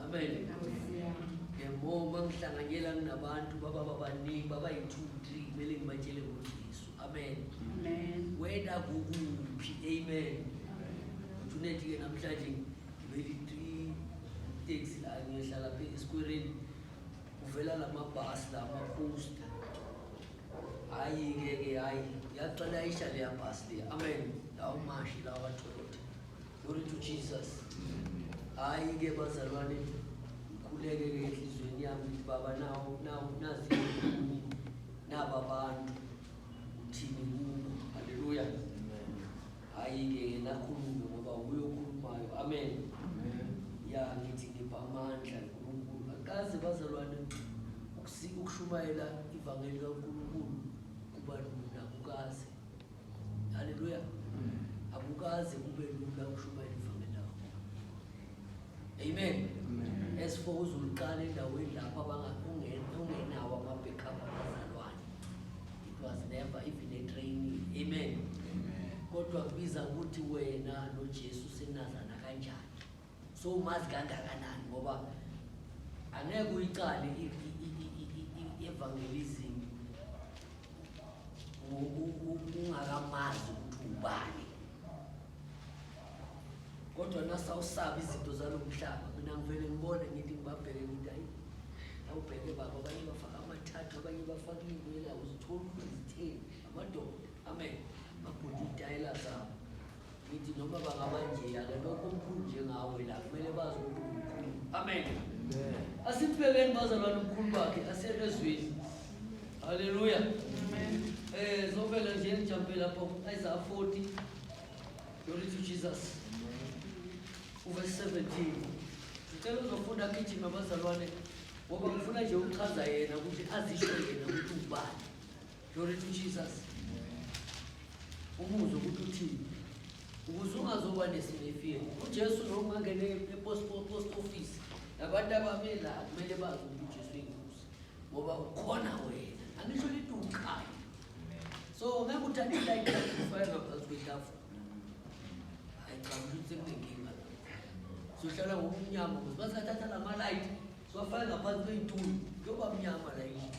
Amen. Ngiyabonga ngihlanganyela nginabantu baba babaningi baba yi-two three kumele ngibatshele ngoJesu. Amen. Amen. Wena kukuphi? Amen. Uthuneti ke namhlanje ngibeli three taxi la ngiyohlala phe esikwereni kuvela lamabhasi la maposta. Hayi ke ke hayi yaqala isha leya bhasi le. Amen. Lawo mashi lawa Toyota. Glory to Jesus. Hayi ke bazalwane ngikhuleke ke enhlizweni yami ukuthi baba nawo nawo nazi yini naba bantu uthini kubo. Haleluya. Hayi ke yena akhulume ngoba wuye okhulumayo. Amen. Ya ngithi ngipha amandla uNkulunkulu. Akaze bazalwane ukusika ukushumayela ivangeli kaNkulunkulu kuba lula kukaze. Haleluya. Akukaze kube lula ukushumayela ivangeli lakho. Amen. As for uzuluqala endaweni lapho abangakungenawo ama-backup abazalwane. It was never even a training. Amen. Kodwa kubiza ukuthi wena noJesu senazana kanjani. so umazi kangakanani ngoba angeke uyiqale i-evangelism ungakamazi ukuthi ubani kodwa nasawusaba izinto zalo mhlaba mina ngivele ngibone ngithi ngibabheke ngithi ayi awubheke baba abanye bafaka amathathu abanye bafaka iy'nwela uzitholi ukuthi zitheni amadoda amen babhudi iy'tayela zabo ngithi noma bangaba njeya ke lokho omkhulu njengawe la kumele bazi ukuthi umkhulu amen asibhekeni bazalwane umkhulu bakhe asiyelezwini haleluya eh zovela nje ngijampe lapho isa 40 glory to jesus uverse 17 ngicela uzofunda gijima bazalwane ngoba ngifuna nje ukuchaza yena ukuthi azisho yena ukuthi ubani Glory to Jesus. Umuzi ukuthi uthini? Ukuze ungazoba nesinefile. UJesu lo ungangene epost post office. Nabantu abamela kumele bazi ukuthi uJesu inkosi. Ngoba ukhona wena. Angisho lithi uqhayo. So ngeke uthathe like ufike ngaphansi kwetafula. Ayicabanga ukuthi sekunenkinga. Sohlala ngokumnyama ngoba basathatha lama light. Sofika ngaphansi kwethulo. Kuyoba mnyama la yini.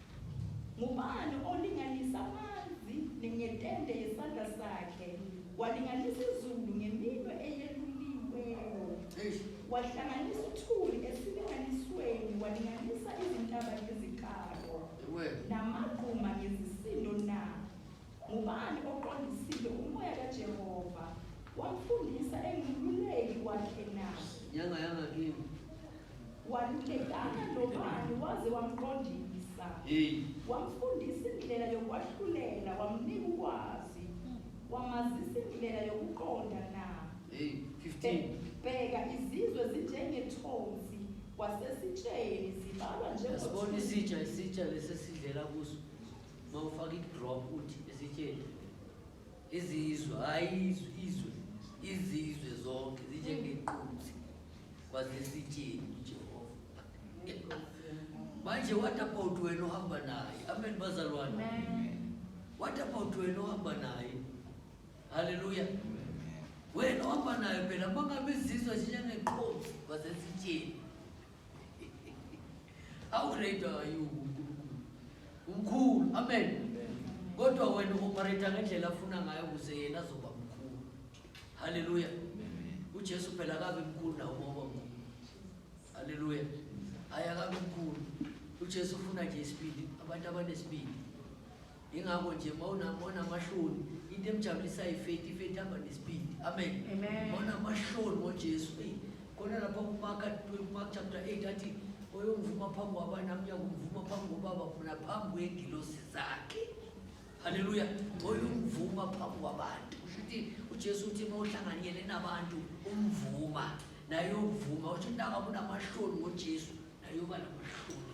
Ngubani olinganisa amanzi ngetende yesandla sakhe, walinganisa izulu ngeminwe eyeluliweyo, wahlanganisa uthuli esilinganisweni, walinganisa izintaba ngezikalo, namagquma ngezisindo na? Ngubani oqondisile umoya kaJehova, wamfundisa engiluleki wakhe na? Nyanga yangakini. Walulekana nobani waze wamqondisa? Hey. Wamfundisa indlela yokwahlulela, wamnika ukwazi, wamazisa indlela yokuqonda na? Hey, 15. Bheka izizwe zinjengethonsi kwasesitsheni zibalwa Yasibona njengothu. isitsha isitsha lesesidlela kuso mawufaka idrop uthi isitsheni izizwe hayi izwe izwe izizwe zonke zinjengequnzi kwazesitsheni ujehova manje what about wena ohamba naye amen bazalwane what about wena ohamba naye haleluya wena ohamba naye phela mangabe izizwe zinjengequnzi kwazesitsheni How great are you uNkulunkulu? Umkhulu. Amen. Kodwa wena uoperate ngendlela afuna ngayo ukuze yena azoba mkhulu. Hallelujah. UJesu phela akabe mkhulu nawo ngoba mkhulu. Hallelujah. Ayakabe mkhulu. UJesu ufuna nje isibindi, abantu abanesibindi. Ingakho nje mawunamahloni into emjabulisayo ifethi ifethi hamba nesipidi amen mawunamahloni ngojesu eyi khona lapha kumaka mark chapter 8 athi oyongivuma phambi kwabani nami uyakumvuma phambi kobaba funa phambi kwegilosi zakhe haleluya oyongivuma phambi kwabantu usho ukuthi ujesu uthi uma uhlanganyele nabantu umvuma naye uyovuma usho intaka kunamahloni ngojesu naye uba namahloni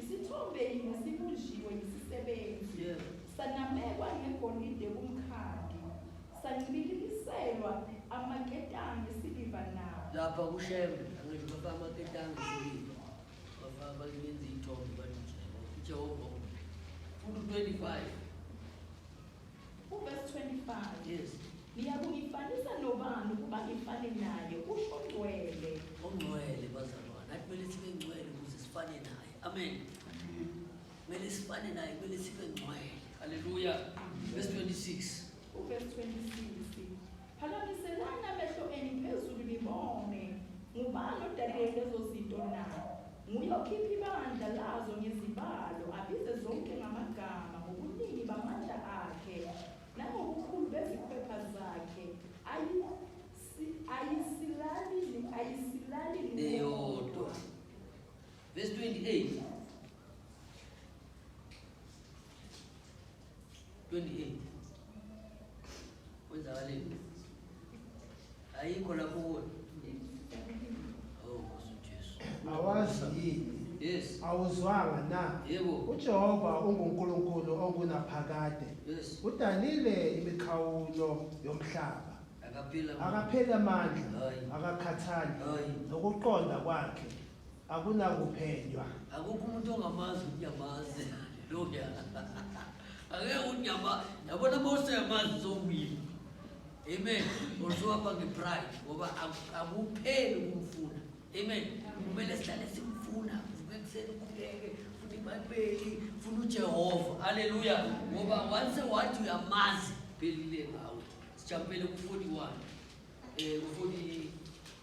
Isithombe yinye sibunjiwe yisisebenzi, sanamekwa ngegolide kumkhadi, sancibilikiselwa amaketanga esiliva nawo. Lapha kuShembe, angisho bafaka amaketanga esiliva, bafaka balenza iy'thombe bathi uJehova, uJehova ukuphi? Futhi u-25 Uvesi 25. Yes. Niyakungifanisa nobani ukuba ngifane naye usho ngcwele. Ongcwele bazalwane. Nathi kumele sibe ngcwele ukuze sifane naye. Amen. Kumele sifane naye, kumele sibe ngcwele. Haleluya. Verse 26. Uvesi 26. Phakamiselani amehlo enu phezulu nibone, ngubani odale lezo zinto na? Nguye okhipha ibandla lazo ngezibalo, abize zonke ngamagama, ngobuningi bamandla akhe, nangobukhulu bezikhwepha zakhe, ayi, si, ayisilali, ayisilali neyodwa. Verse 28. 28 kwenzakaleni ayikho lapho kuwe oh nkosi ujesu awazi yini yes awuzwanga na yebo ujehova ungunkulunkulu ongunaphakade yes udalile imikhawulo yomhlaba akaphila akapheli amandla Hayi. akakhathali Hayi. nokuqonda kwakhe akunakuphenywa akukho umuntu ongamazi ukuthi uyamazi loya angeke ukuthi uyama yabona uma useyamazi uzowina amen usuhamba ngepride ngoba aku- akupheli ukumfuna amen kumele sihlale simfuna uvuke ekuseni ukhuleke funa ibhayibheli funa ujehova halleluya ngoba once wathi uyamazi phelile ngawe sijabulele ku-41 um ku-40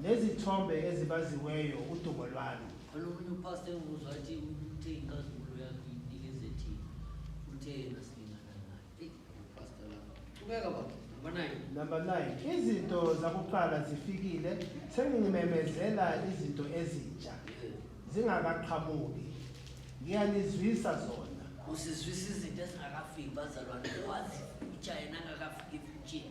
Nezithombe ezibaziweyo udumo lwalo. Olunye upastor enguzwa athi uthe inkazimulo yakhe uyinikeze thina. Uthe yena silingana naye. Eyi, upastor lapha. Qhubeka baba. Number nine. Number 9. Izinto zakuqala zifikile, sengimemezela izinto ezintsha. Eh, Zingakaqhamuki. Ngiyanizwisa zona. Usizwisa izinto ezingakafiki bazalwane. Owazi future yena angakafiki efutsheni.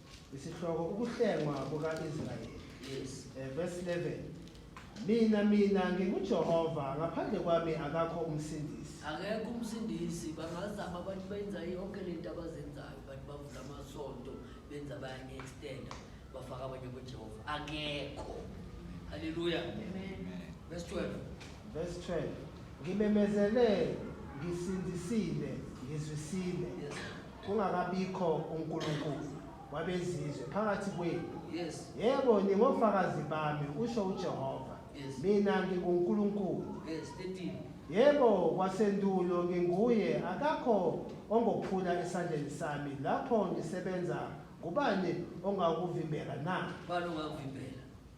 Isihloko ukuhlengwa kuka-Israyeli. Yes. Eh, verse 11. Mina mina nginguJehova ngaphandle kwami akakho umsindisi. Akekho umsindisi bangazama abantu benza yonke le nto abazenzayo abantu bavula amasonto benza bayanye-extenda bafaka abanye kujehova akekho halleluya verse 12 verse 12 ngimemezele ngisindisile ngizwisile yes. Kungakabikho uNkulunkulu wabezizwe phakathi kwenu. Yes. Yebo, ningofakazi bami, usho uJehova. Yes. Mina nginguNkulunkulu. Yes, 13. Yebo, kwasendulo nginguye, akakho ongophula esandleni sami lapho ngisebenza. Ngubani ongakuvimbela na? Bani ongakuvimbela?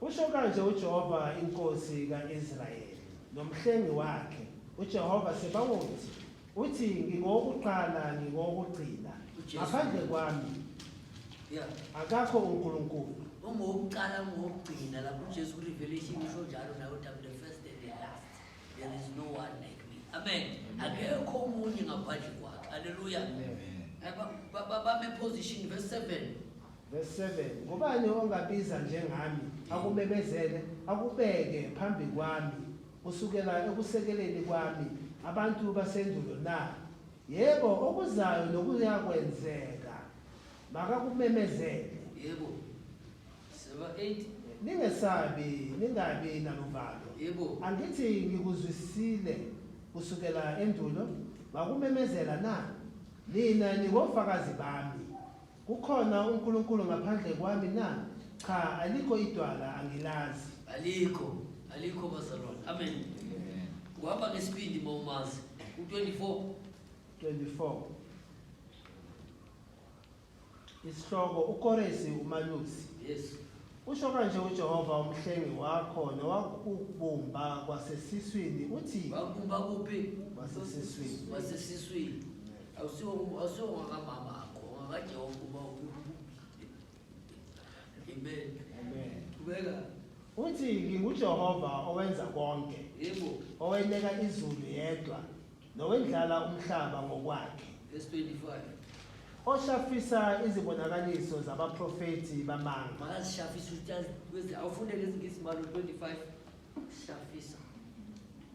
Usho kanje uJehova inkosi ka-Israyeli nomhlengi wakhe uJehova Sebawoti uthi ngingowokuqala ngingowokugcina ngaphandle kwami Yeah. akakho uNkulunkulu Ungowokuqala ungowokugcina lapho uJesu kuRevelation usho njalo nawe uthi I'm the first and the last. There is no one like me. Amen. Akekho omunye ngaphandle kwakhe. Hallelujah. Amen. Ba- ba- ba- Bame position verse 7. Verse 7 Ngubani ongabiza njengami, akumemezele, akubeke phambi kwami, kusukela ekusekeleni kwami abantu basendulo na? Yebo, okuzayo nokuyakwenzeka makakumemezele. Yebo. Seba 8. Ningesabi, ningabi naluvalo. Yebo. Angithi ngikuzwisile kusukela endulo, ngakumemezela na? Nina ningofakazi bami. Kukhona uNkulunkulu ngaphandle kwami na? Cha, alikho idwala, angilazi. Alikho, alikho bazalwane. Amen. Uhamba ngesibindi uma umazi. U-24. 24. Isihloko uKoresi uMalusi. Yes. Usho kanje uJehova umhlengi wakho nowakubumba kwasesiswini uthi Wakubumba kuphi? kwasesiswini. Wasesiswini. awusiwo awusiwo ngakamama akho ngakajehova uba amen amen ubeka uthi ngingujehova owenza konke yebo oweneka izulu yedwa nowendlala umhlaba ngokwakhe verse 25 oshafisa izibonakaliso zabaprofethi bamanga makazishafisa ukuthi azi- wezi- awufunde lezi ngisi malo 25 shafisa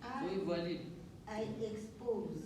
I, soyivalile I expose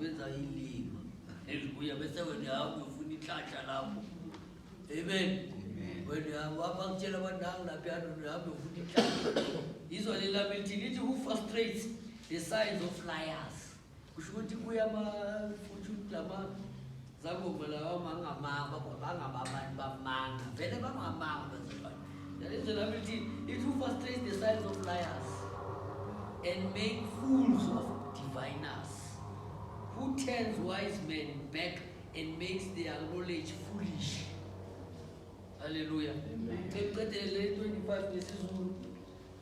Wenza ilima elibuya bese wena hamba uyofuna ihlatsha lapho. Amen. Wena wapha kutshela abantu hamba lapha hamba uyofuna ihlatsha. Izwa leli lami lithi lithi who frustrates the signs of liars. Kusho ukuthi kuya ama-fortune lama Zakuba lawo mangamanga bangaba abantu bamanga vele bangamanga bezilwane that is the ability it who frustrates the signs of liars and make fools of diviners who turns wise men back and makes their knowledge foolish haleluya qeqedele 25 ngesizulu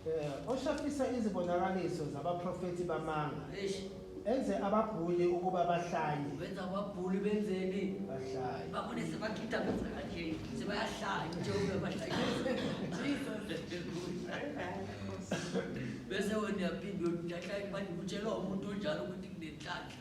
Eh, oshafisa izibonakaliso zabaprofethi bamanga Eish, enze ababhuli ukuba bahlanye wenza ababhuli benzeni bahlaye babone sebakhitta benza kanje sebayahlaya njengoba bahlaya bese wena uyaphinde uyahlaya manje kutshelwa umuntu onjalo ukuthi kunenhlanhla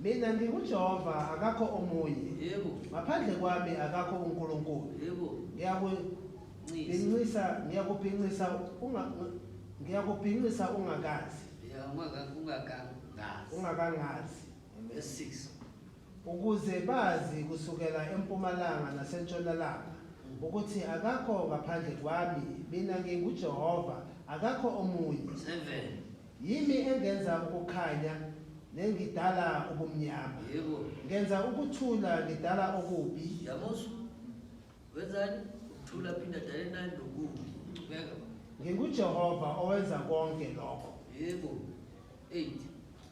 Mina nginguJehova, akakho omunye. Yebo. Ngaphandle kwami akakho uNkulunkulu. Yebo. Ngiyaku Ngincisa, ngiyakubhincisa unga ngiyakubhincisa ungakazi. Ya ungakangazi. Ungakangazi. Ngesisi. Ukuze bazi kusukela empumalanga nasentshonalanga mm. ukuthi akakho ngaphandle kwami mina nginguJehova akakho omunye. 7 Yimi engenza ukukhanya, nengidala ubumnyama. Yebo. Ngenza ukuthula, ngidala okubi. Yamosu, wenzani? Ukuthula phinde adale nani nokubi. Ngibeka. NginguJehova owenza konke lokho. Yebo. 8.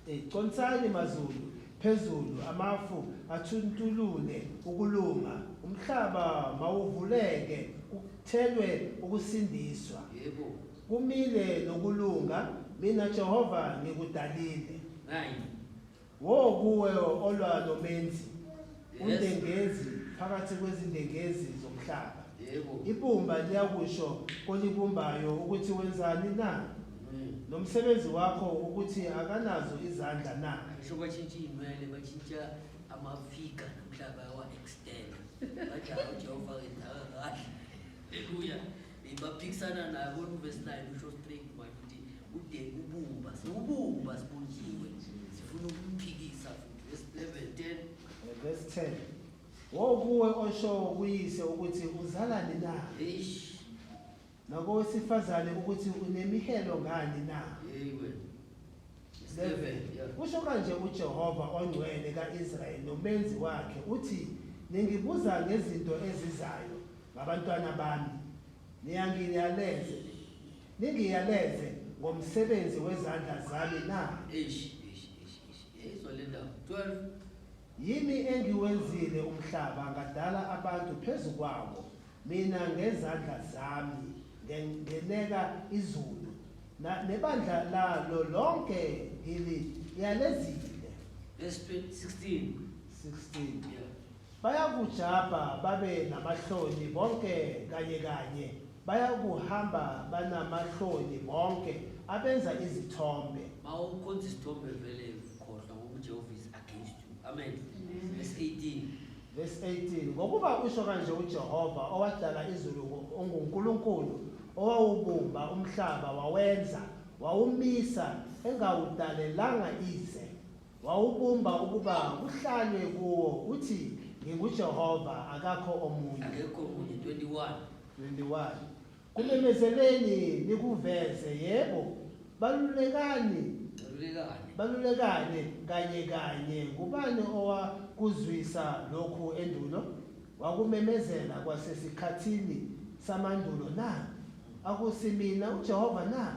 Eh, Consani mazulu, phezulu amafu athuntulule ukulunga, umhlaba mawuvuleke kuthelwe ukusindiswa. Yebo. Kumile nokulunga, mina Jehova ngikudalile. 9. Wo kuwe olwa nomenzi, Yes. undengezi phakathi kwezindengezi zomhlaba. Yebo. Ibumba liyakusho kolibumbayo ukuthi wenzani na? Mm. Nomsebenzi wakho ukuthi akanazo izandla na? Ngisho batshintsha iy'nwele batshintsha amafiga nomhlaba yawa-extend bathi hawu jehova wenzaka kahle haleluya Baphikisana nayo bona uvesi 9 usho straight manje ukuthi ude ubumba siwubumba sibunjiwe sifuna ukumphikisa futhi vesi 11 10 vesi 10 wokuwe osho kuyise ukuthi uzalani na eish nakowesifazane ukuthi unemihelo ngani na hey wena 7 kusho kanje uJehova ongcwele kaIsrayeli nomenzi wakhe uthi ningibuza ngezinto ezizayo Ngabantwana bami, niyangiyaleze, ningiyaleze ngomsebenzi wezandla zami na? Eish, eish, eish, eish. Yayizwa le ndaba. 12. Yimi engiwenzile umhlaba ngadala abantu phezu kwawo, mina ngezandla zami nge- ngeneka izulu, na- nebandla lalo lonke ngiliyalezile. Verse 20 16. 16. Yeah. Bayakujabha babe namahloni bonke kanye kanye, bayakuhamba banamahloni bonke abenza izithombe. Ma ukhonza isithombe vele khohlwa ngoba uJehova is against you. Amen. Verse 18. Verse 18 Ngokuba usho kanje uJehova owadala izulu ngo- onguNkulunkulu owawubumba umhlaba wawenza wawumisa engawudalelanga ize Wawubumba ukuba kuhlalwe kuwo uthi nginguJehova akakho omunye. Akekho omunye 21. 21. Kumemezeleni nikuveze yebo balulekani balulekane kanye kanye ngubani owakuzwisa lokhu endulo wakumemezela kwasesikhathini samandulo na akusimina uJehova na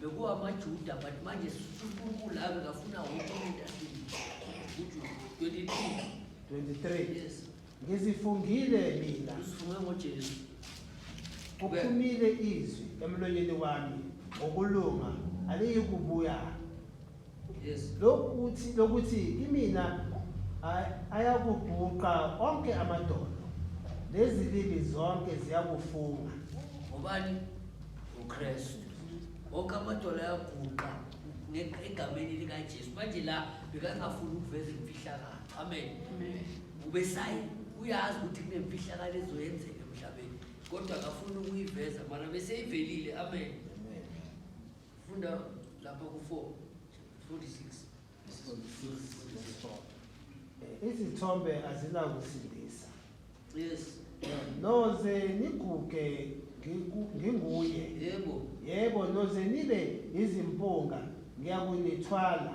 bekuwamajuda but manje unkulunkulu ake kafuna wonke umuntu asikuthi 23 23 yes ngizifungile mina usifunge ngojesu kuphumile izwi emlonyeni wami ngokulunga aliyikubuya lokuthi lokuthi kimina ayakubhuqa onke amadoda lezilimi zonke ziyakufunga ngobani uKristu wonke amadola ayaguqa egameni likaJesu manje la bekangafuni ukuveza imfihlakalo amen ubesayi uyazi ukuthi kunemfihlakalo ezoyenzeka emhlabeni kodwa akafuni ukuyiveza mana beseyivelile amen Funda lapha ku-4 46 izithombe azinakusindisa yes noze niguge ngiku- nginguye yebo yebo noze nibe izimpunga ngiyakunithwala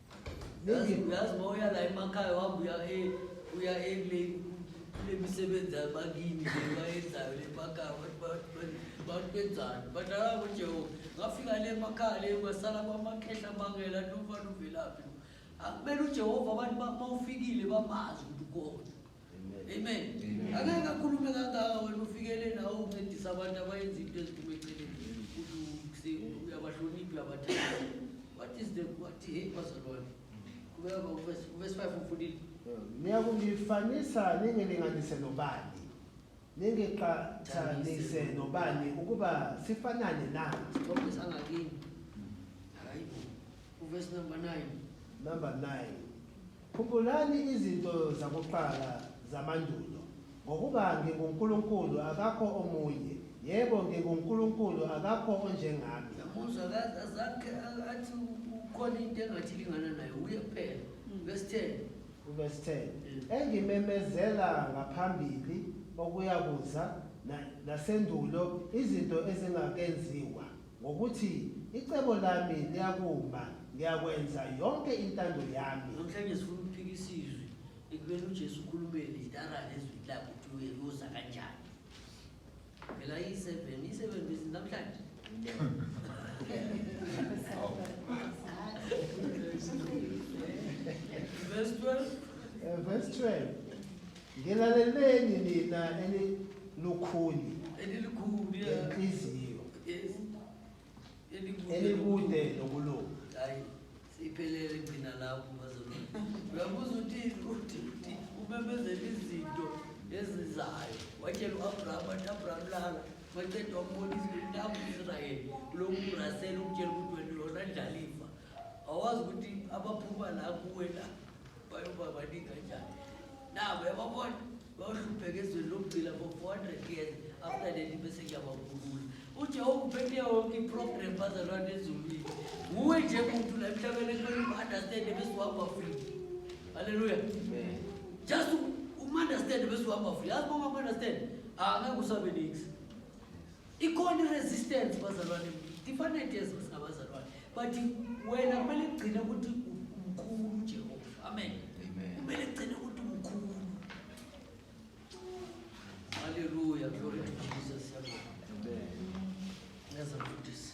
uyazi uma uya la emakhaya uhamba uya e, uya ekule kule misebenzi abakini le bayenzayo le emakhaya bantu benzani but alabo nje ngafika le emakhaya le kwasala kwamakhehla amangela luva luvelaphi akumele ujehova abantu uma ufikile bamazi ukuthi ukhona Amen. Angeke akhulume kangaka wena ufikele nawe uncedisa abantu abayenza into eziphuma eceleni. Ukuthi uyabahlonipha uyabathanda. What is the what hey bazalwane? Kubeka ba verse 5 ufundile. Niyakungifanisa ningilinganise nobani? Ningiqhathanise nobani ukuba sifanane na? Ngoba sangakini. Hayi. Uverse number 9. Number 9. Khumbulani izinto zakuqala zamandulo, ngokuba nginguNkulunkulu, akakho omunye, yebo, nginguNkulunkulu, akakho onjengami. Yamuzwa, akaze azange athi kukhona into engathi ilingana naye, uye kuphela. Verse 10. Verse 10. Engimemezela ngaphambili okuyakuza na- nasendulo izinto ezingakenziwa. Ngokuthi icebo lami liyakuma, ngiyakwenza yonke intando yami. Namhlanje sifuna ukuphika isizwe ekubeni uJesu ukhulume litara nezwi lakhe ukuthi uyoza kanjani. Phela i-seven, i-seven bese namhlanje. Verse 12. Eh, Verse 12. Ngilaleleni nina elilukhuni elilukhuni lenhliziyo elikude nokulunga hayi siphelele gcina lapho bazona uyabuza uthi uthi umemezela izinto ezizayo watshela u-abrahama athi abraham lala waceda wambonisa intabu israyeli kulo murasela ukutshela ukuthi wena yona ndlalifa awazi ukuthi abaphuma la kuwe la bayoba baningi kanjani nabo yababona bayohlupheka ezweni lokugcina for 400 years after leli bese kuyababulula ujehova uphethe yonke iprogram bazalwane ezulwini nguwe nje muntu la emhlabeni ekumele umu-understande bese uhamba free halleluya just umu-understande bese uhamba free yazi bonga umu-understande angeke usabe niksi Ikhona i-resistance bazalwane different yezo singabazalwane but wena kumele kugcine ukuthi umkhulu uJehova. Amen. Amen. Kumele kugcine ukuthi umkhulu. Hallelujah. Glory to Jesus. Amen. Ngeza mfundisi.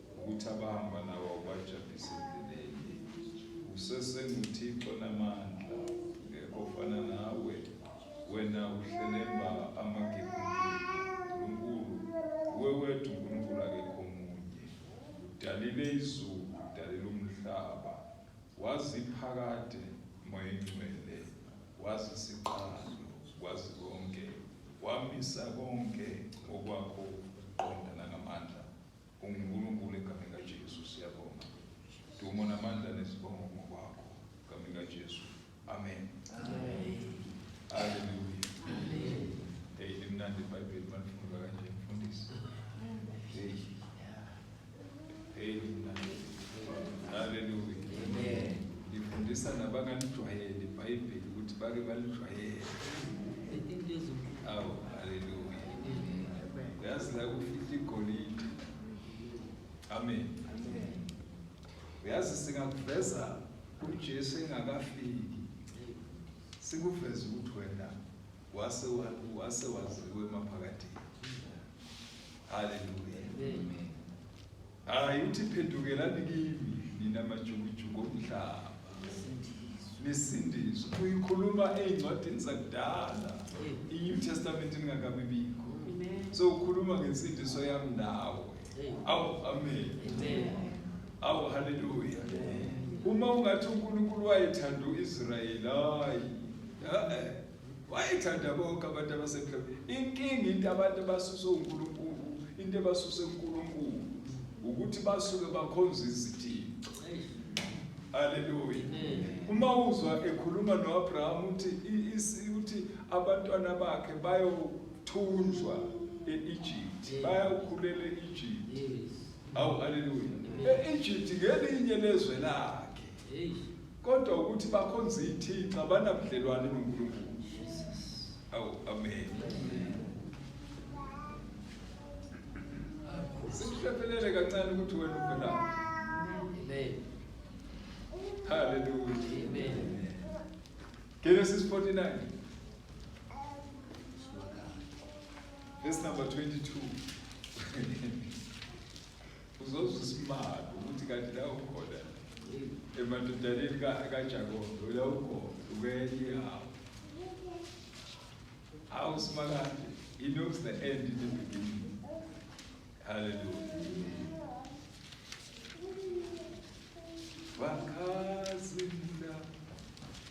Ukuthi abahamba nawe ubajabhise endleleni. Usesenguthixo namandla, ngekho ofana nawe. Wena uhlelemba amagebhubhe, Nkulunkulu, uwe wethu Nkulunkulu akekho omunye. Udalile izulu, udalile umhlaba, waziphakade moya ingcwele, wazisiqalo, wazi konke, wamisa konke ngokwakho ukuqonda nangamandla. UnguNkulunkulu egameni likaJesu siyabonga. Dumo namandla nezibongo ngokwakho egameni likaJesu. Amen. Amen. Hallelujah. Amen. Hey, limnandi iBhayibheli malifundwa kanje mfundisi. Hey. Hey, limnandi. Hallelujah. Amen. Lifundisa nabangalijwayeli iBhayibheli ukuthi bake balijwayele. Awu, hallelujah. uyazi la kufihla igolide amen uyazi singakuveza ujesu engakafiki sikuveza ukuthi wena wase wase waziwe emaphakathini haleluya amen Hayi uthi phendukelani kimi nina majukujuku omhlaba. Nesindiso uyikhuluma ezincwadini zakudala. I-New Testament ingakabi bikho. So ukhuluma ngensindiso yami nawe. Awu amen. Awu haleluya. Uma ungathi uNkulunkulu wayethanda uIsrayeli hayi. Eh. wayethanda bonke abantu abasemhlabeni inkinga into abantu abasuse uNkulunkulu into ebasuse uNkulunkulu ukuthi basuke bakhonza izithixo haleluya uma uzwa ekhuluma noAbraham uthi uthi abantwana bakhe bayothunjwa eEgypt bayakhulela eEgypt awu haleluya eEgypt ngelinye lezwe lakhe kodwa ukuthi bakhonza ithixo abanabudlelwane nonkulunkulu awu amen sikuhlephelele kancane ukuthi wena uvelaphi haleluya genesis 49 verse number 22 Uzozwa isimanga ukuthi kanti la ukhona emadodaneni kaJakobe la ukhona ukenye yawo. Hawu simakade, he knows the end in the beginning. Hallelujah. Vakazimda.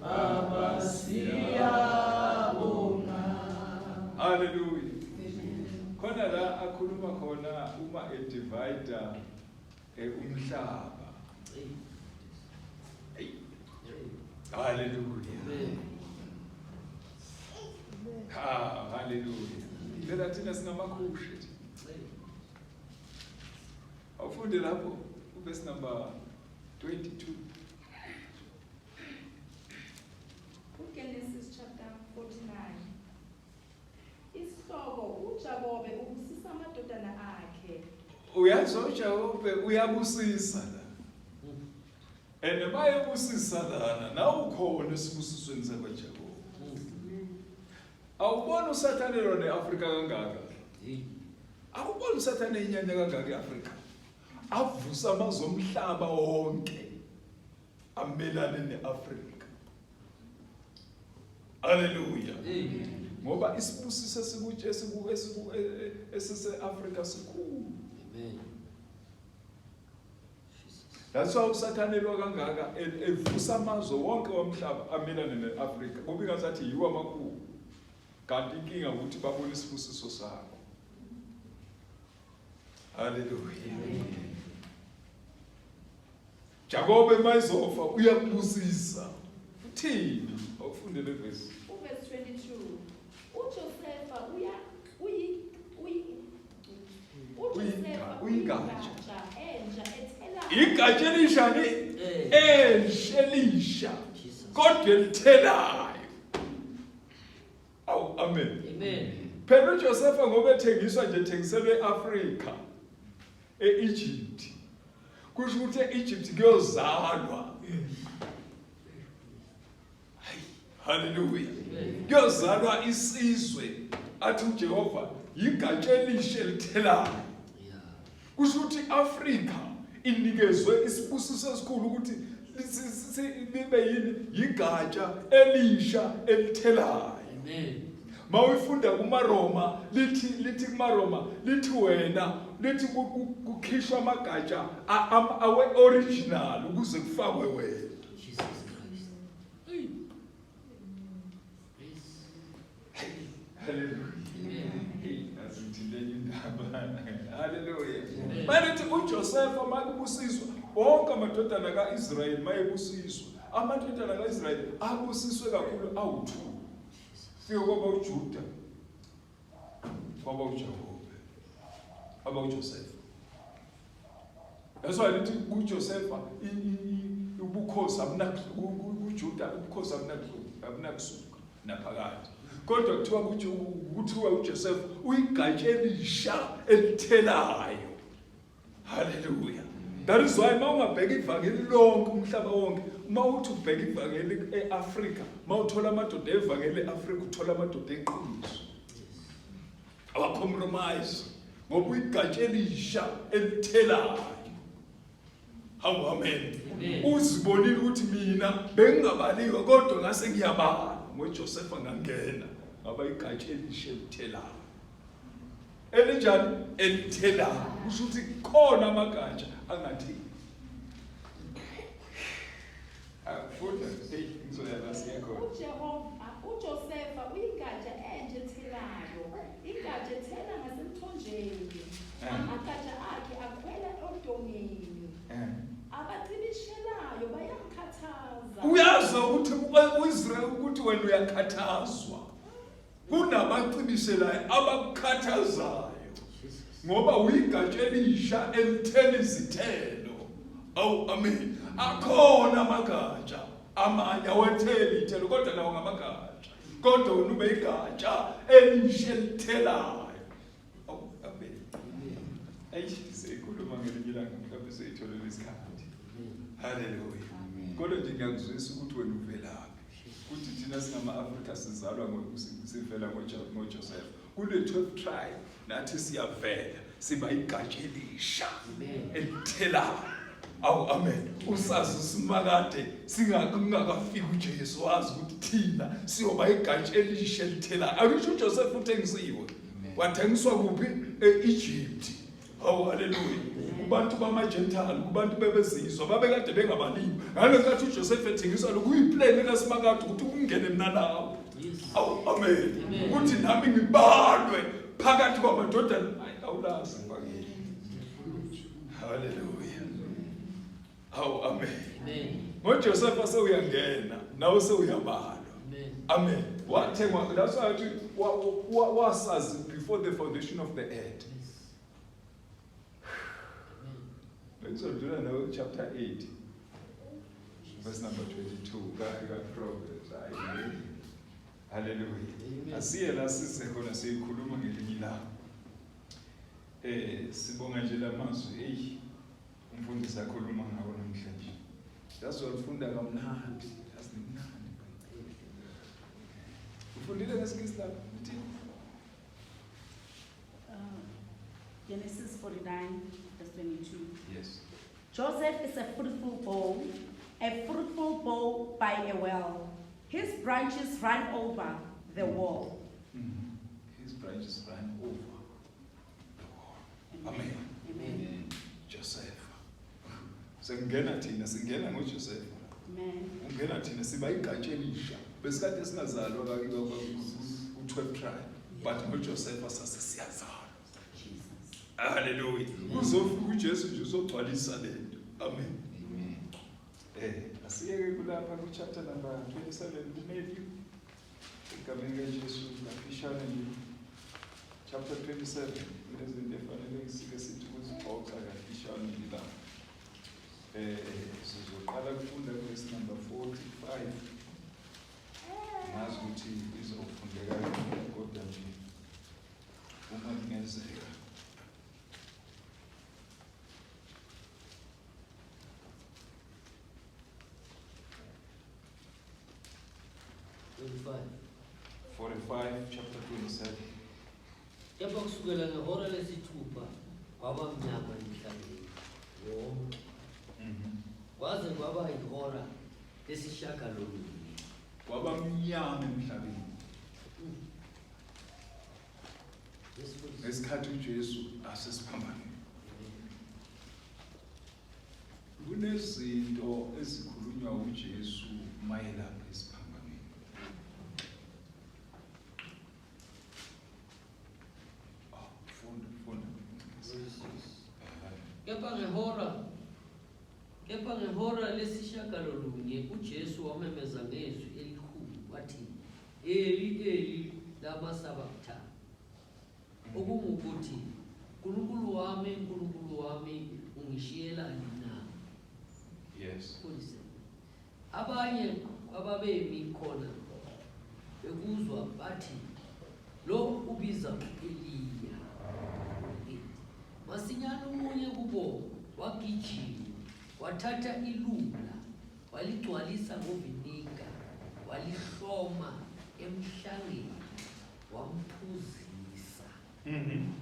Baba siyabonga. Hallelujah. Khona la akhuluma khona uma e divide eh, umhlaba. Hallelujah. Ha, hallelujah. Phela thina singamakhushe. Awufunde lapho u verse number 22. UGenesis chapter 49 isihloko uJakobe ubusisa amadodana akhe uyazi uJakobe uyabusisa la and mayebusisa lana nawukhona esibusisweni sakwaJakobe awubona usathane lona eAfrika kangaka awubona usathane inyanya kangaka eAfrika avusa amazomhlaba wonke amelane ne-afrika aleluya ngoba isibusiso esise-afrika sikhulu that's why usathanelwa kangaka evusa amazwe wonke womhlaba amelane ne-afrika kubi ngazathi yiwo amakhulu kanti inkinga ukuthi babone isibusiso sakho haleluya Jakobe mayizofa uyakubusisa. Uthini? Awufunde le verse. Verse 22. UJosefa uya uyi uyi uJosefa uyingatsha entsha ethela. Igatsha elishani? Entsha elisha. Kodwa elithelayo. Awu amen. Amen. Phela uJosefa ngoba ethengiswa nje ethengiselwe eAfrika. e-Egypt kusho ukuthi e-Egypt kuyozalwa haleluya kuyozalwa isizwe athi uJehova yigatsha elishe lithelayo kusho ukuthi iAfrika inikezwe isibusiso esikhulu ukuthi libe yini yigatsha elisha elithelayo amen mawuyifunda kumaroma lithi lithi kumaroma lithi wena lithi kukhishwa amagatsha awe original ukuze kufakwe wena Hallelujah. Bathi uJosefa makubusizwa wonke amadodana kaIsrayeli mayebusizwa. Amadodana kaIsrayeli abusiswe kakhulu awu2. fika kwaba uJuda kwaba uJakobe aba uJosefa That's why lithi kuJosefa ubukhosi abunakuJuda ubukhosi abunakusuka abunakusuka naphakade kodwa kuthiwa ukuthi kuthiwa uJosefa uyigatshe elisha elithelayo Hallelujah. That is why uma ungabheka ivangeli lonke umhlaba wonke uma uthi ubheka ivangeli e-Afrika uma uthola amadoda evangeli e-Afrika uthola amadoda eqiniso abacompromise ngoba uyigatsha elisha elithelayo hawu amen uzibonile ukuthi mina bengingabaliwe kodwa ngase ngiyabala ngoJosefa ngangena ngaba igatsha elisha elithelayo elinjani elithelayo kusho ukuthi khona amagatsha angatheli akufunda hey ngizoyala siyakhona uJehova uJosefa uyingatsha enje ethelayo ingatsha ethela ngasemthonjeni eh. amagatsha akhe akhwela odongeni eh. abacibishelayo bayamkhathaza uyazi ukuthi uIsrael ukuthi wena uyakhathazwa kunabacibiselayo abakukhathazayo ngoba uyigatsha elisha elithela izithelo awu amen akhona amagatsha amanye awetheli ithelo kodwa nawo ngamagatsha kodwa wena ube igatsha elisha elithelayo awu amen ayishise ikhuluma ngelinye ilanga mhlawumbe seyitholele isikhathi haleluya kodwa nje ngiyakuzwisa ukuthi wena uvelaphi Kuthi thina singama-Afrika sizalwa sivela ngoJoseph. Kune-12 tribe nathi siyavela siba igatsha elisha elithelayo. Awu amen. Usazi usimakade singakungakafiki uJesu wazi ukuthi thina siyoba igatsha elisha elithelayo. Akusho uJoseph uthengisiwe. Wathengiswa kuphi? E-Egypt. Hawu haleluya. Kubantu bamaJentile, kubantu bebezizwa babekade bengabalimi. Ngalokhathi uJoseph ethengisa lokhu uyiplan likaSimakade ukuthi kungene mina lapho. Awu amen. Ukuthi nami ngibalwe phakathi kwamadodana. Hayi awulazi ngibakile. Haleluya. Awu amen. Amen. NgoJosefa sewuyangena nawe sewuyabalwa. Amen. Amen. Wathengwa that's why athi wa- wa- wasazi before the foundation of the earth. Bengizodlula nawe chapter 8 verse number 22 ka ka Proverbs. Ayi. Hallelujah. Amen. Asiye la sise khona siyikhuluma ngelinye ilanga. Eh sibonga nje lamazwi hey Umfundisi akhuluma ngawo namhlanje. Yazi walifunda kamnandi, yazi limnandi iBhayibheli. Ufundile ngesikisi lapho uthi Uh, Genesis 49, verse 22. yes. Joseph is a fruitful bough, a fruitful bough by a well. His branches run over the wall. Mm. His branches ran over. Amen. Amen. Josefa. Sengena thina singena ngoJosefa. Amen. Ungena thina siba igqatshe elisha. Besikade singazalwa kakiba u-12 tribe but ngoJosefa sase siyazalwa. Hallelujah. Uzofika uJesu nje uzogcwalisa lento. Amen. Amen. Eh, asiyeke kulapha ku chapter number 27 kuMatthew. Egameni likaJesu ngafishane nje chapter 27 kunezinto efanele ngisike sithi kuzixoxa kafishane nje la eh sizoqala kufunda verse number 45 ngazi ukuthi izofundeka kodwa nje uma kungenzeka 45 chapter 27 kepha kusukela ngehora lesithupha kwaba mnyama emhlabeni wonke mhm. kwaze kwaba yihora lesishagalolunye kwaba mnyama emhlabeni ngesikhathi uJesu asesiphambanweni Kunezinto ezikhulunywa uJesu mayelana isiphambanweni. Ah, funda, funda. Kepha ngehora kepha ngehora lesishagalolunye uJesu wamemeza ngezwi elikhulu wathi Eli Eli lama sabachthani Okungukuthi, Nkulunkulu wami, Nkulunkulu wami, ungishiyelani na? Yes. Kulise. Abanye ababemi khona bekuzwa bathi lo ubiza uEliya. Masinyane umunye kubo wagijima wathatha ilula waligcwalisa ngovinika walihloma emhlangeni wamphuzisa Mhm.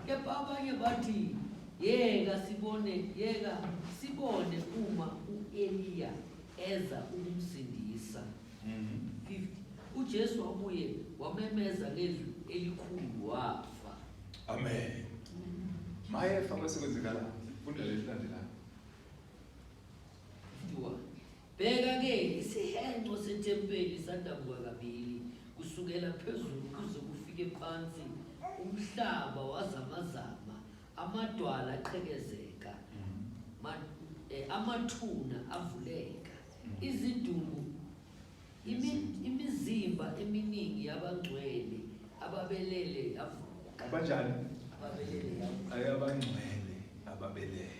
kepha abanye bathi yeka sibone yeka sibone uma u-eliya eza ukumsindisa Mhm. 50 ujesu wabuye wamemeza ngezwi elikhulu wafa Amen. Mayefa bese kwenzekala. Funda lelilandelayo. Bheka-ke isihenqo sethempeli sadabuka kabili kusukela phezulu kuze kufike phansi umhlaba wazamazama amadwala aqhekezeka eh, amathuna avuleka izidumbu imizimba eminingi yabangcwele ababelele yavuka abajani ababelele yavuka abangcwele ababelele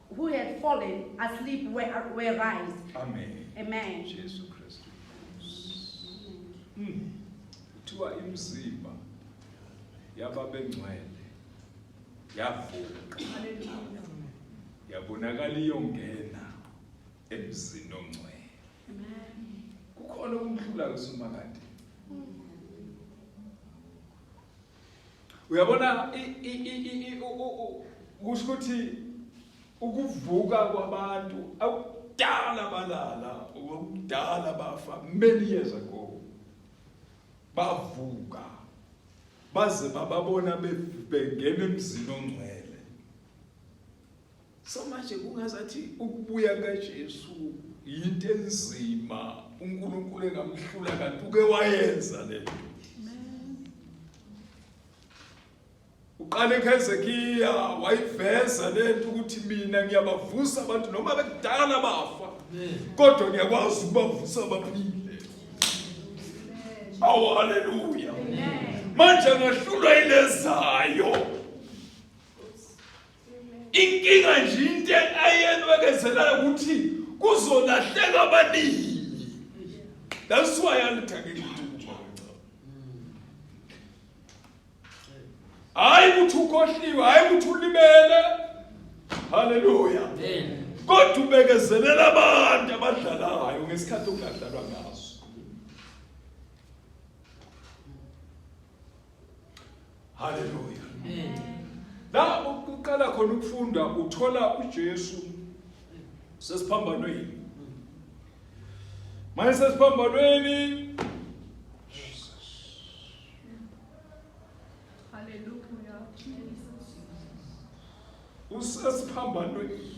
who had fallen asleep were, were raised. Amen. Amen. Jesu Kristu. Mm. Kuthiwa imizimba yababengcwele yavuka. Yabonakala iyongena emzini ongcwele. Amen. Kukhona umhlula kusumakade. uyabona kusho ukuthi ukuvuka kwabantu akudala balala okudala bafa many years ago bavuka baze bababona bengena emzini ongcwele So manje kungazathi ukubuya kaJesu yinto enzima uNkulunkulu engamhlula kanti uke wayenza le nto. Uqale eKhezekiya wayiveza le nto ukuthi mina ngiyabavusa abantu noma bekudala bafa kodwa ngiyakwazi ukubavusa baphile. Awu haleluya. Manje ngahlulwa ilezayo. inkinga nje into ayenwekezelayo ukuthi kuzolahleka abaningi that's why alithakeli hayi ukuthi ukhohliwe hayi ukuthi ulimele haleluya kodwa ubekezelela abantu abadlalayo ngesikhathi okungadlalwa ngaso Haleluya. La ukuqala khona ukufunda uthola uJesu sesiphambanweni. Manje sesiphambanweni Hallelujah. usesiphambanweni.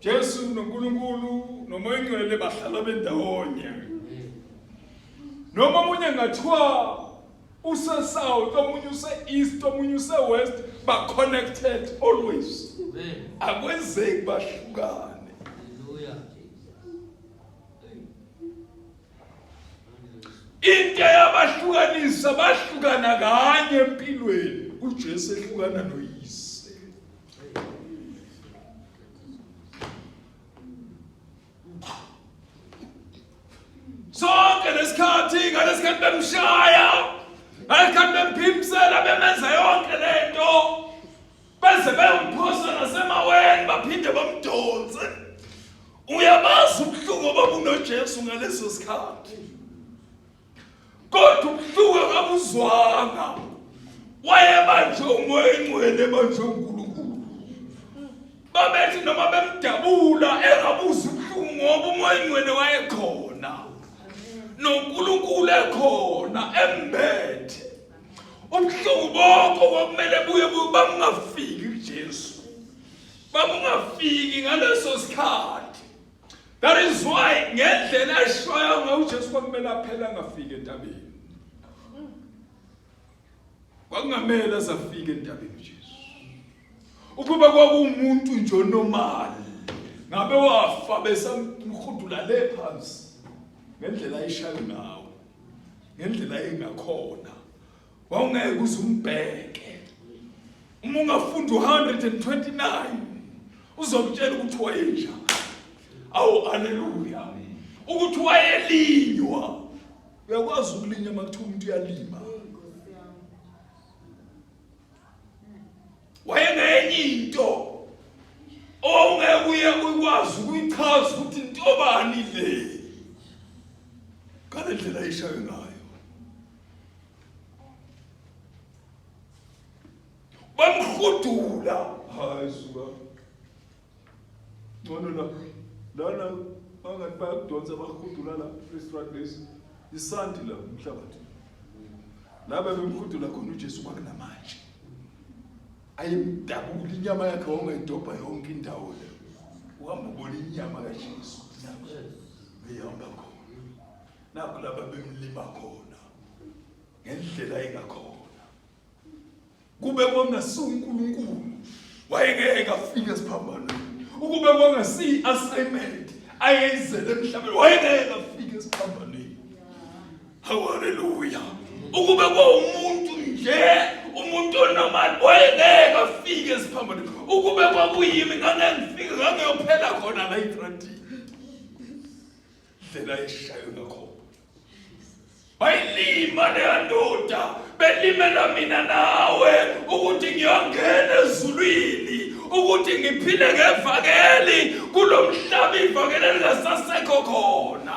Jesu noNkulunkulu nomoya ongcwele bahlala bendawonye noma omunye ngathiwa usesouth omunye use-east omunye use-west ba-connected always akwenzeki bahlukane into eyabahlukanisa bahlukana kanye empilweni uJesu ehlukana noyise sonke lesikhathi ngalesikhathi bemshaya ngalesikhathi bemphimsela bemenza yonke lento beze beyomphosa nasemaweni baphinde bamdonse uyabazi ubuhlungu obabunojesu ngaleso sikhathi kodwa ubuhlungu akabuzwanga wayebanjwe umoya engcwele ebanjwe unkulunkulu babethi noma bemdabula engabuzi ubuhlungu ngoba umoya engcwele wayekhona nonkulunkulu ekhona embethe ubuhlungu bokho kwakumele buye bamungafiki kujesu bamungafiki ngaleso sikhathi that is why ngendlela eshoya ngayo ujesu kwakumele aphele angafiki entabeni kwakungamele azafike entabeni ujesu ukuba kwakuwumuntu nje onomali ngabe wafa besamhudula le phansi ngendlela ayishayo ngawo ngendlela engakhona wawungeke kuze umbheke uma ungafunda u-129 uzokutshela ukuthi wayenjani awu aleluya ukuthi wayelinywa uyakwazi ukulinywa uma kuthiwa umuntu uyalima wayengenye into ongeke uye ukwazi ukuyichaza ukuthi intobani le ngale ndlela ayishayo ngayo bamhudula hayi suka ngcono la lana bangathi bayakudonsa bahudula la restaurant lesi isanti la umhlabathi laba bemhudula khona uJesu kwakunamanje ayemdabula inyama yakhe wawungayidobha yonke indawo le uhamba ubona inyama kaJesu inyama eyihamba khona nakho laba bemlima khona ngendlela engakhona Kube kwangasi uNkulunkulu wayengeke afike esiphambanweni. Ukube kwangasi i-assignment ayeyizele emhlabeni wayengeke afike esiphambanweni. Haleluya. Ukube kwawumuntu nje umuntu onomali wayengeke afike esiphambanweni. Ukube kwakuyimi ngangengifike ngangiyophela khona la itrantini. Ndlela eshayo ngakhona. bayilima leya ndoda belimela mina nawe ukuthi ngiyongena ezulwini ukuthi ngiphile ngevangeli kulo mhlaba ivangeli elingasasekho khona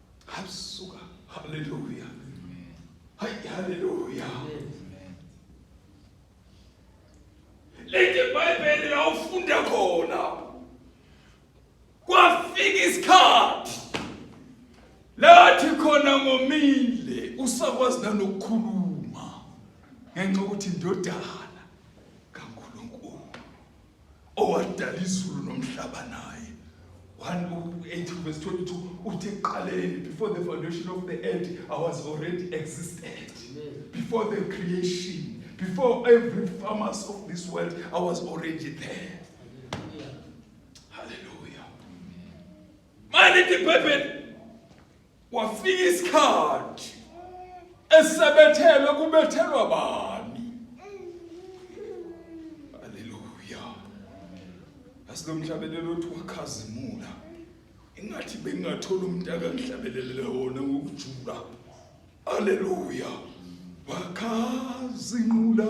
Hasuka. Hallelujah. Amen. Hi, hallelujah. Amen. Leti Bibeli la ufunda khona. Kwafika isikhathi. Lathi khona ngomile usakwazi nanokukhuluma ngenxa ukuthi indodana kaNkuluNkulu. owadala izulu nomhlaba naye 1:18 verse 22 uthi ekuqaleni before the foundation of the earth i was already existed before the creation before every farmers of this world i was already there hallelujah manje ibhayibheli Kwafika isikhathi esebethelwe kubethelwa bani. Haleluya. Asilomhlabelelo othi wakhazimula. Ingathi bengingathola umuntu akangihlabelele wona ngokujula. Haleluya. Wakhazimula.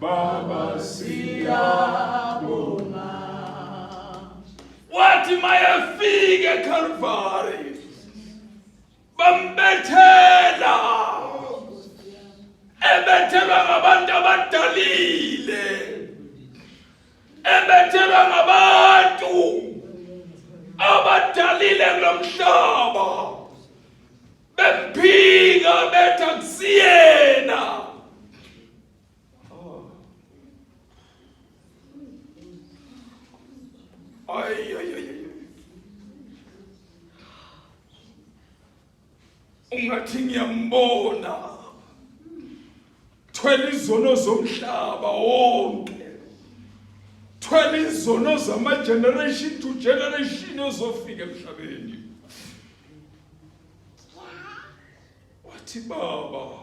Baba siyabonga wathi mayefika eKalvari bambethela ebethelwa ngabantu abadalile ebethelwa ngabantu abadalile kulomhlaba bemphika betha kusiyena Ay, ay, ay, ay. Ungathi ngiyambona. Thwela izono zomhlaba wonke. Thwela izono zama generation to generation ozofika emhlabeni. Wathi baba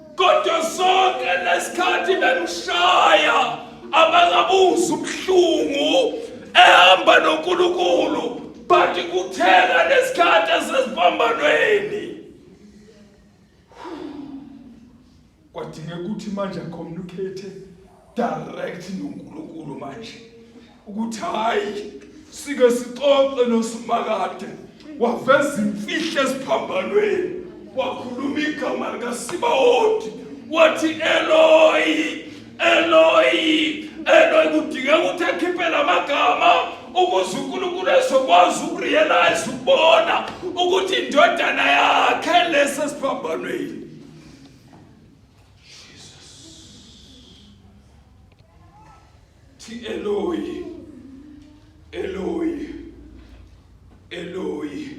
kodwa sonke lesikhathi bemshaya abangabuza ubuhlungu ehamba noNkulunkulu but kuthela lesikhathi esesibambanweni kwadinga ukuthi manje communicate direct noNkulunkulu manje ukuthi hayi sike sixoxe noSimakade waveza imfihlo esiphambanweni wakhuluma igama likaSibawoti wathi Eloyi Eloyi Eloyi kudingeka ukuthi akhiphe lamagama ukuze uNkulunkulu ezokwazi ukurealize ukubona ukuthi indodana yakhe lesi esiphambanweni Thi Eloi, Eloi, Eloi.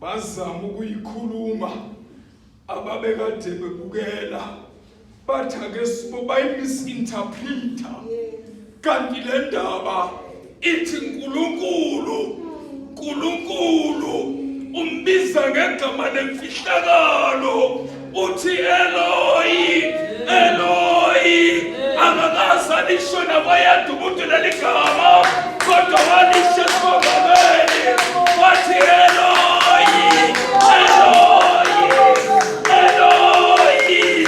Bazama ukuyikhuluma ababekade bebukela bathi ake sibo bayimisinterpreter. kanti le ndaba ithi nkulunkulu nkulunkulu umbiza ngegama lemfihlakalo uthi eloyi eloyi angakaze alisho nakwayanda umuntu leli gama kodwa walisho esibogameni wathi eloyi eloyi eloyi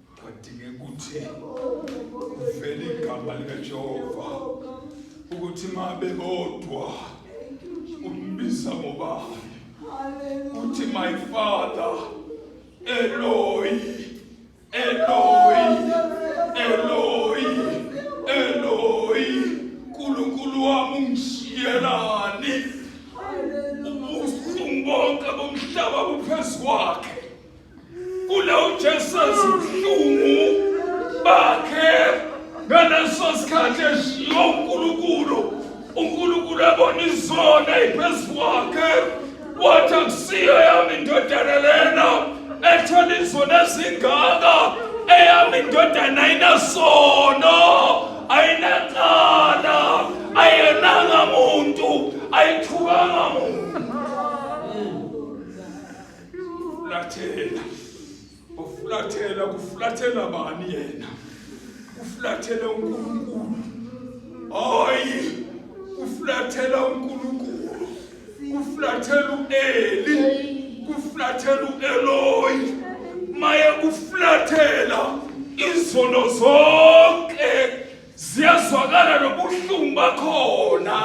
kwadinge ukuthi uvele igama likajehova ukuthi ma bebodwa umbiza ngobani uthi my father eloi eloi eloi eloi nkulunkulu wami ungishiyelani ubuhlungu bonke bomhlaba buphezu kwakhe Kula uJesus ubuhlungu bakhe ngaleso sikhathi eshiya uNkulunkulu. UNkulunkulu abona izona iphezu kwakhe wathi akusiyo yami indodana lena ethola izona ezingaka eyami indodana ayinasono ayinacala ayenanga muntu ayithukanga muntu Ufulathela. Ufulathela kufulathela bani yena? Ufulathela uNkulunkulu. Hayi. Ufulathela uNkulunkulu. Ufulathela uEli. Ufulathela uEloyi. Maye ufulathela izono zonke. ziyazwakala nobuhlungu bakhona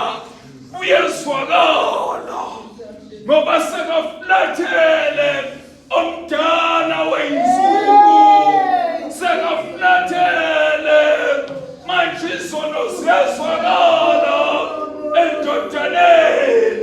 buyezwakala ngoba sekafulathele omdala weyinsuku sekafulathele manje izono ziyazwakala endodaneni